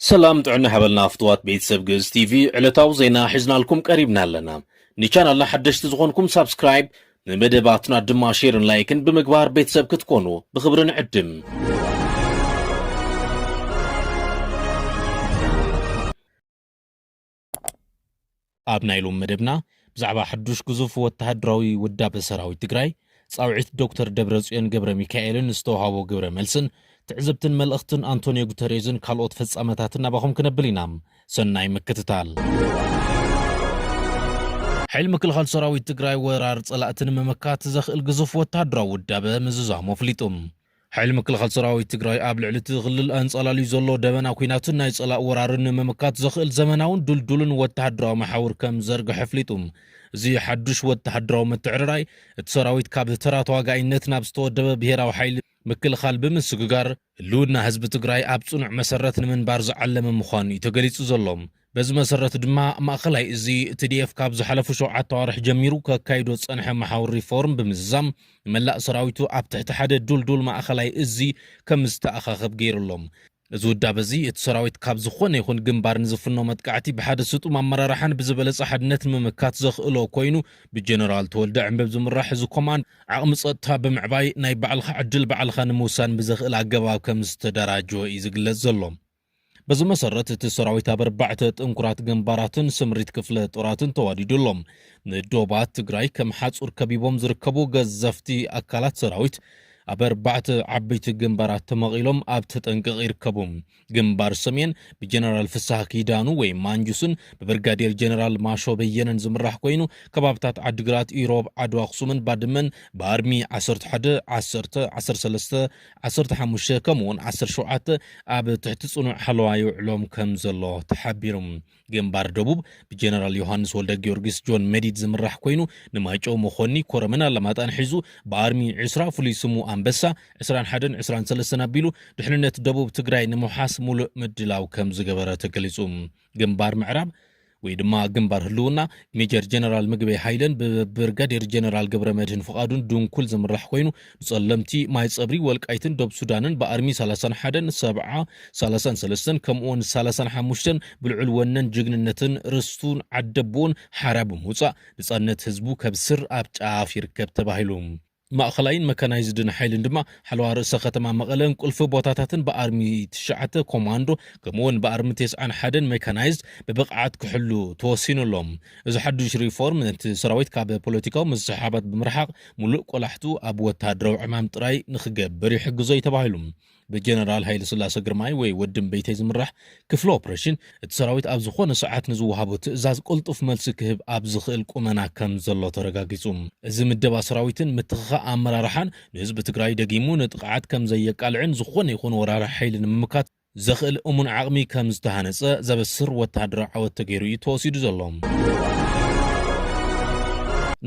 ሰላም ጥዕና ሓበልና ፍትዋት ቤተሰብ ግእዝ ቲቪ ዕለታዊ ዜና ሒዝናልኩም ቀሪብና ኣለና ንቻናልና ሓደሽቲ ዝኾንኩም ሳብስክራይብ ንመደባትና ድማ ሼርን ላይክን ብምግባር ቤተሰብ ክትኮኑ ብኽብሪ ንዕድም ኣብ ናይ ሎም መደብና ብዛዕባ ሕዱሽ ግዙፍ ወተሃድራዊ ውዳበ ሰራዊት ትግራይ፣ ጻውዒት ዶክተር ደብረጽዮን ገብረሚካኤልን ዝተውሃቦ ግብረ መልስን፣ ትዕዝብትን መልእኽትን ኣንቶንዮ ጉተሬዝን ካልኦት ፍጻመታትን ናባኹም ክነብል ኢና። ሰናይ ምክትታል። ሓይሊ ምክልኻል ሰራዊት ትግራይ ወራር ፀላእቲ ንምምካት ዘኽእል ግዙፍ ወተሃደራዊ ውዳበ ምዝዛሙ ኣፍሊጡ። ሓይሊ ምክልኻል ሰራዊት ትግራይ ኣብ ልዕሊ እቲ ክልል ኣንጻላልዩ ዘሎ ደበና ኲናትን ናይ ጸላእ ወራርን ንምምካት ዘኽእል ዘመናውን ድልዱልን ወተሃደራዊ መሓውር ከም ዝዘርግሐ ኣፍሊጡ። እዚ ሓዱሽ ወተሃደራዊ ምትዕርራይ፣ እቲ ሰራዊት ካብ ተራ ተዋጋኢነት ናብ ዝተወደበ ብሄራዊ ሓይሊ ምክልኻል ብምስግጋር፣ ህልውና ህዝቢ ትግራይ ኣብ ጽኑዕ መሰረት ንምንባር ዝዓለመ ምዃኑ እዩ ተገሊጹ ዘሎ። በዚ መሰረት ድማ ማእኸላይ እዚ ትዲኤፍ ካብ ዝሓለፉ ሸውዓተ ኣዋርሕ ጀሚሩ ከካይዶ ዝፀንሐ መሓውር ሪፎርም ብምዝዛም ንመላእ ሰራዊቱ ኣብ ትሕቲ ሓደ ዱልዱል ማእኸላይ እዚ ከም ዝተኣኻኸብ ገይሩ ኣሎም። እዚ ውዳበ እዚ እቲ ሰራዊት ካብ ዝኾነ ይኹን ግንባር ንዝፍኖ መጥቃዕቲ ብሓደ ስጡም ኣመራርሓን ብዝበለፀ ሓድነት ንምምካት ዘኽእሎ ኮይኑ ብጀነራል ተወልደ ዕንበብ ዝምራሕ እዚ ኮማንድ ዓቕሚ ፀጥታ ብምዕባይ ናይ ባዕልኻ ዕድል ባዕልኻ ንምውሳን ብዘኽእል ኣገባብ ከም ዝተደራጀወ እዩ ዝግለፅ ዘሎ። በዚ መሰረት እቲ ሰራዊት ኣብ ኣርባዕተ ጥንኩራት ግንባራትን ስምሪት ክፍለ ጦራትን ተዋዲዱ ኣሎ። ንዶባት ትግራይ ከም ሓፁር ከቢቦም ዝርከቡ ገዘፍቲ ኣካላት ሰራዊት ኣብ ኣርባዕተ ዓበይቲ ግንባራት ተመቒሎም ኣብ ተጠንቀቕ ይርከቡ። ግንባር ሰሜን ብጀነራል ፍስሃ ኪዳኑ ወይም ማንጁስን ብብርጋዴር ጀነራል ማሾ በየነን ዝምራሕ ኮይኑ ከባብታት ዓዲግራት፣ ኢሮብ፣ ዓድዋ ኣኽሱምን ባድመን ብኣርሚ 11፣ ዓሰርተ፣ ዓሰርተ ሰለስተ፣ ዓሰርተ ሓሙሽተ ከምኡ'ውን ዓሰርተ ሸውዓተ ኣብ ትሕቲ ጽኑዕ ሓለዋ ይውዕሎም ከም ዘሎ ተሓቢሩ። ግንባር ደቡብ ብጀነራል ዮሃንስ ወልደጊዮርጊስ ጆን መዲድ ዝምራሕ ኮይኑ ንማይጨው፣ መኾኒ፣ ኮረምን ኣላማጣን ሒዙ ብኣርሚ ዕስራ ፍሉይ ስሙ ኣንበሳ ዕስራን ሓደን ዕስራን ሰለስተን ኣቢሉ ድሕንነት ደቡብ ትግራይ ንምውሓስ ሙሉእ ምድላው ከም ዝገበረ ተገሊጹ። ግንባር ምዕራብ ወይ ድማ ግንባር ህልውና ሜጀር ጀነራል ምግበይ ሃይለን ብብርጋዴር ጀነራል ገብረ መድህን ፍቓዱን ድንኩል ዝምራሕ ኮይኑ ንጸለምቲ ማይ ጸብሪ ወልቃይትን ዶብ ሱዳንን ብኣርሚ 31ን 70 33ን ከምኡውን 35ን ብልዑል ወነን ጅግንነትን ርስቱን ዓደቦኡን ሓራ ብምውጻእ ንጻነት ህዝቡ ከብስር ኣብ ጫፍ ይርከብ ተባሂሉ ማእኸላይን መካናይዝድን ሓይልን ድማ ሓለዋ ርእሰ ከተማ መቐለን ቁልፊ ቦታታትን ብኣርሚ ትሽዓተ ኮማንዶ ከምኡውን ብኣርሚ ቴስዓን ሓደን ሜካናይዝድ ብብቕዓት ክሕሉ ተወሲኑ ኣሎ። እዚ ሓዱሽ ሪፎርም ነቲ ሰራዊት ካብ ፖለቲካዊ ምስሕሓባት ብምርሓቕ ሙሉእ ቆላሕትኡ ኣብ ወተሃደራዊ ዕማም ጥራይ ንክገብር ይሕግዞ እዩ ተባሂሉ። ብጀነራል ሃይለስላሰ ግርማይ ወይ ወዲ እምበይተይ ዝምራሕ ክፍሊ ኦፕሬሽን፣ እቲ ሰራዊት ኣብ ዝኾነ ሰዓት ንዝወሃቦ ትእዛዝ ቅልጡፍ መልሲ ክህብ ኣብ ዝኽእል ቁመና ከም ዘሎ ተረጋጊጹ። እዚ ምደባ ሰራዊትን ምትኽኻእ ኣመራርሓን ንህዝቢ ትግራይ ደጊሙ ንጥቕዓት ከም ዘየቃልዕን ዝኾነ ይኹን ወራሪ ሓይሊ ንምምካት ዘኽእል እሙን ዓቕሚ ከም ዝተሃነጸ ዘበስር ወተሃደራዊ ዓወት ተገይሩ እዩ ተወሲዱ ዘሎ።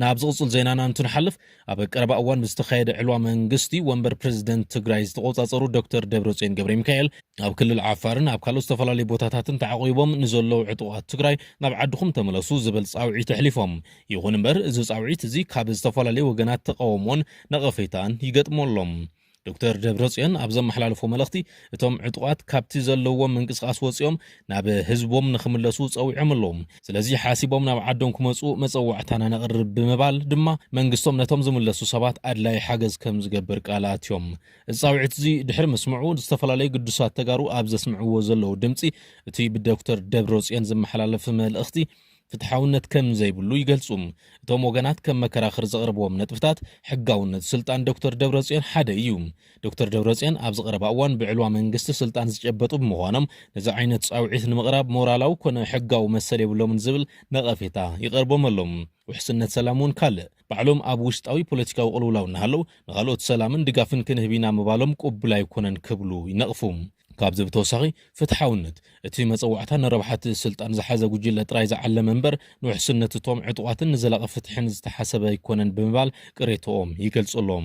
ናብ ዝቕጽል ዜናና እንትንሓልፍ፣ ኣብ ቀረባ እዋን ብዝተኻየደ ዕልዋ መንግስቲ ወንበር ፕረዚደንት ትግራይ ዝተቖፃፀሩ ዶክተር ደብረፅዮን ገብረሚካኤል ኣብ ክልል ዓፋርን ኣብ ካልኦት ዝተፈላለዩ ቦታታትን ተዓቑቦም ንዘለዉ ዕጡቓት ትግራይ ናብ ዓድኹም ተመለሱ ዝበል ፃውዒት ኣሕሊፎም። ይኹን እምበር እዚ ፃውዒት እዚ ካብ ዝተፈላለዩ ወገናት ተቓውሞን ነቐፌታን ይገጥሞ ኣሎ። ዶክተር ደብረፅዮን ኣብ ዘመሓላለፎ መልእኽቲ እቶም ዕጡቓት ካብቲ ዘለዎም ምንቅስቓስ ወፂኦም ናብ ህዝቦም ንክምለሱ ፀዊዖም ኣለዉ። ስለዚ ሓሲቦም ናብ ዓዶም ክመፁ መፀዋዕታና ነቕርብ ብምባል ድማ መንግስቶም ነቶም ዝምለሱ ሰባት ኣድላዪ ሓገዝ ከምዝገብር ቃል ኣትዮም። እዚ ፃውዒት እዚ ድሕሪ ምስምዑ ዝተፈላለዩ ግዱሳት ተጋሩ ኣብ ዘስምዕዎ ዘለዉ ድምፂ እቲ ብዶክተር ደብረፅዮን ዝመሓላለፍ መልእኽቲ ፍትሓውነት ከም ዘይብሉ ይገልጹ። እቶም ወገናት ከም መከራኽር ዘቕርብዎም ነጥብታት ሕጋውነት ስልጣን ዶክተር ደብረጽዮን ሓደ እዩ። ዶክተር ደብረጽዮን ኣብዚ ቀረባ እዋን ብዕልዋ መንግስቲ ስልጣን ዝጨበጡ ብምዃኖም ነዚ ዓይነት ጻውዒት ንምቕራብ ሞራላዊ ኮነ ሕጋዊ መሰል የብሎምን ዝብል ነቐፌታ ይቐርቦም ኣሎ። ውሕስነት ሰላም እውን ካልእ ባዕሎም ኣብ ውሽጣዊ ፖለቲካዊ ቅልውላው እናሃለው ንኻልኦት ሰላምን ድጋፍን ክንህብ ኢና ምባሎም ቅቡል ኣይኮነን ክብሉ ይነቕፉ። ካብዚ ብተወሳኺ ፍትሓውነት እቲ መጸዋዕታ ንረብሓ'ቲ ስልጣን ዝሓዘ ጉጅለ ጥራይ ዝዓለመ እምበር ንውሕስነት እቶም ዕጡቓትን ንዘላቒ ፍትሕን ዝተሓሰበ ኣይኮነን ብምባል ቅሬታኦም ይገልጹ ኣለው።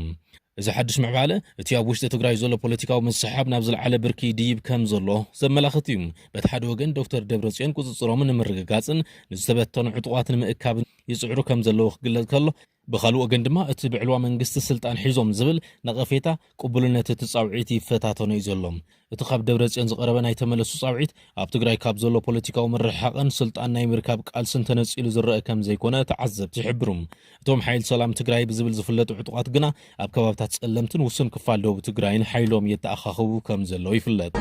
እዚ ሓድሽ ምዕባለ እቲ ኣብ ውሽጢ ትግራይ ዘሎ ፖለቲካዊ ምስሕሓብ ናብ ዝለዓለ ብርኪ ይድይብ ከምዘሎ ዘመላኽት እዩ። በቲ ሓደ ወገን ዶክተር ደብረጽዮን ቁጽጽሮም ንምርግጋጽን ንዝተበተኑ ዕጡቓት ንምእካብን፣ ይጽዕሩ ከም ዘለዉ ክግለጽ ከሎ፣ ብኻልእ ወገን ድማ እቲ ብዕልዋ መንግስቲ ስልጣን ሒዞም ዝብል ነቐፌታ ቅቡልነት እቲ ጻውዒት ይፈታተኖ እዩ ዘሎ። እቲ ካብ ደብረጽዮን ዝቐረበ ናይ ተመለሱ ጻውዒት፣ ኣብ ትግራይ ካብ ዘሎ ፖለቲካዊ ምርሕሓቕን ስልጣን ናይ ምርካብ ቃልስን ተነጺሉ ዝረኣ ከም ዘይኮነ ተዓዘብቲ ይሕብሩ። እቶም ሓይል ሰላም ትግራይ ብዝብል ዝፍለጡ ዕጡቓት ግና፣ ኣብ ከባብታት ፀለምትን ውሱን ክፋል ደቡብ ትግራይን ሓይሎም የተኣኻኽቡ ከም ዘለዉ ይፍለጥ።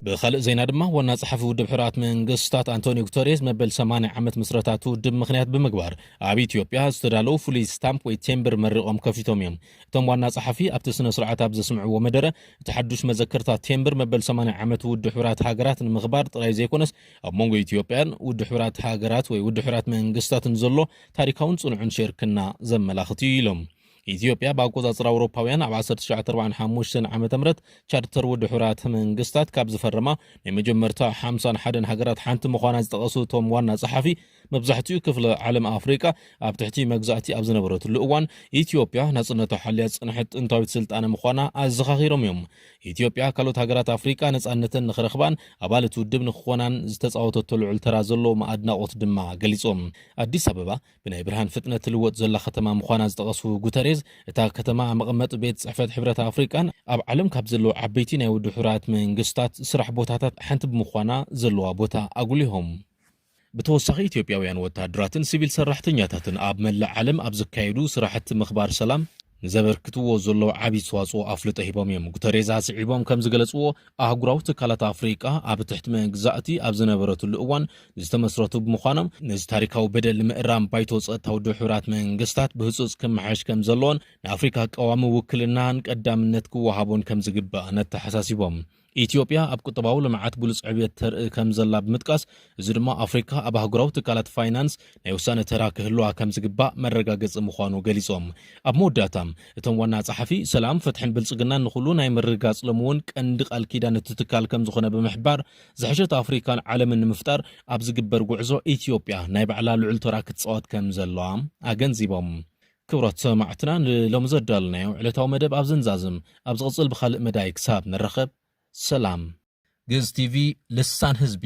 ብኻልእ ዜና ድማ ዋና ጸሓፊ ውድብ ሕራት መንግስታት ኣንቶኒ ጉተሬስ መበል 80 ዓመት ምስረታቱ ውድብ ምክንያት ብምግባር ኣብ ኢትዮጵያ ዝተዳለዉ ፍሉይ ስታምፕ ወይ ቴምብር መሪቖም ከፊቶም እዮም እቶም ዋና ጸሓፊ ኣብቲ ስነ ስርዓት ኣብ ዘስምዕዎ መደረ እቲ ሓዱሽ መዘከርታ ቴምብር መበል 80 ዓመት ውድ ሕብራት ሃገራት ንምኽባር ጥራይ ዘይኮነስ ኣብ መንጎ ኢትዮጵያን ውድ ሕብራት ሃገራት ወይ ውድ ሕብራት መንግስታትን ዘሎ ታሪካውን ጽኑዕን ሽርክና ዘመላኽት እዩ ኢሎም። ኢትዮጵያ ብኣቆጻጽራ ኣውሮፓውያን ኣብ 1945 ዓመተ ምህረት ቻርተር ውድ ሕራት መንግስታት ካብ ዝፈረማ ናይ መጀመርታ 51 ሃገራት ሓንቲ ምዃና ዝጠቐሱ እቶም ዋና ጸሓፊ መብዛሕትኡ ክፍለ ዓለም ኣፍሪቃ ኣብ ትሕቲ መግዛእቲ ኣብ ዝነበረትሉ እዋን ኢትዮጵያ ናጽነታ ሓልያ ዝጸንሐት ጥንታዊት ስልጣነ ምዃና ኣዘኻኺሮም እዮም። ኢትዮጵያ ካልኦት ሃገራት ኣፍሪቃ ነጻነተን ንኽረኽባን ኣባል እቲ ውድብ ንኽኾናን ዝተጻወተቶ ልዑል ተራ ዘለዎም ኣድናቖት ድማ ገሊጾም። ኣዲስ ኣበባ ብናይ ብርሃን ፍጥነት ትልወጥ ዘላ ከተማ ምዃና ዝጠቐሱ ጉተሬዝ፣ እታ ከተማ መቐመጢ ቤት ጽሕፈት ሕብረት ኣፍሪቃን ኣብ ዓለም ካብ ዘለዉ ዓበይቲ ናይ ውድብ ሕቡራት መንግስታት ስራሕ ቦታታት ሓንቲ ብምዃና ዘለዋ ቦታ ኣጉሊሆም። ብተወሳኺ ኢትዮጵያውያን ወታሃደራትን ሲቪል ሰራሕተኛታትን ኣብ መላእ ዓለም ኣብ ዝካየዱ ስራሕቲ ምኽባር ሰላም ንዘበርክትዎ ዘለዉ ዓብዪ ኣስተዋፅኦ ኣፍልጦ ሂቦም እዮም። ጉተሬዝ ኣስዒቦም ከምዝገለፅዎ ኣህጉራዊ ትካላት ኣፍሪቃ ኣብ ትሕቲ መግዛእቲ ኣብ ዝነበረትሉ እዋን ዝተመስረቱ ብምዃኖም ነዚ ታሪካዊ በደል ንምእራም ባይቶ ፀጥታ ውድብ ሕቡራት መንግስታት ብህፁፅ ክመሓየሽ ከምዘለዎን ንኣፍሪካ ቀዋሚ ውክልናን ቀዳምነት ክወሃቦን ከምዝግባእ ነተሓሳሲቦም። ኢትዮጵያ ኣብ ቁጠባዊ ልምዓት ግሉጽ ዕብየት ተርኢ ከምዘላ ብምጥቃስ፣ እዚ ድማ ኣፍሪካ ኣብ ኣህጉራዊ ትካላት ፋይናንስ ናይ ውሳነ ተራ ክህልዋ ከምዝግባእ መረጋገጺ ምዃኑ ገሊጾም። ኣብ መወዳእታ እቶም ዋና ጸሓፊ፣ ሰላም፣ ፍትሕን ብልጽግናን ንኹሉ ናይ ምርግጋጽ ሎሚ እውን ቀንዲ ቃል ኪዳን እቲ ትካል ከምዝኾነ ብምሕባር፣ ዝሐሸት ኣፍሪካን ዓለምን ንምፍጣር ኣብ ዝግበር ጉዕዞ ኢትዮጵያ ናይ ባዕላ ልዑል ተራ ክትጻወት ከምዘለዋ ኣገንዚቦም። ክብራት ሰማዕትና ንሎሚ ዘዳለናዮ ዕለታዊ መደብ ኣብዚ ንዛዝም ኣብ ዝቕጽል ብኻልእ መዳይ ክሳብ ንራኸብ ሰላም። ግእዝ ቲቪ ልሳን ህዝቢ።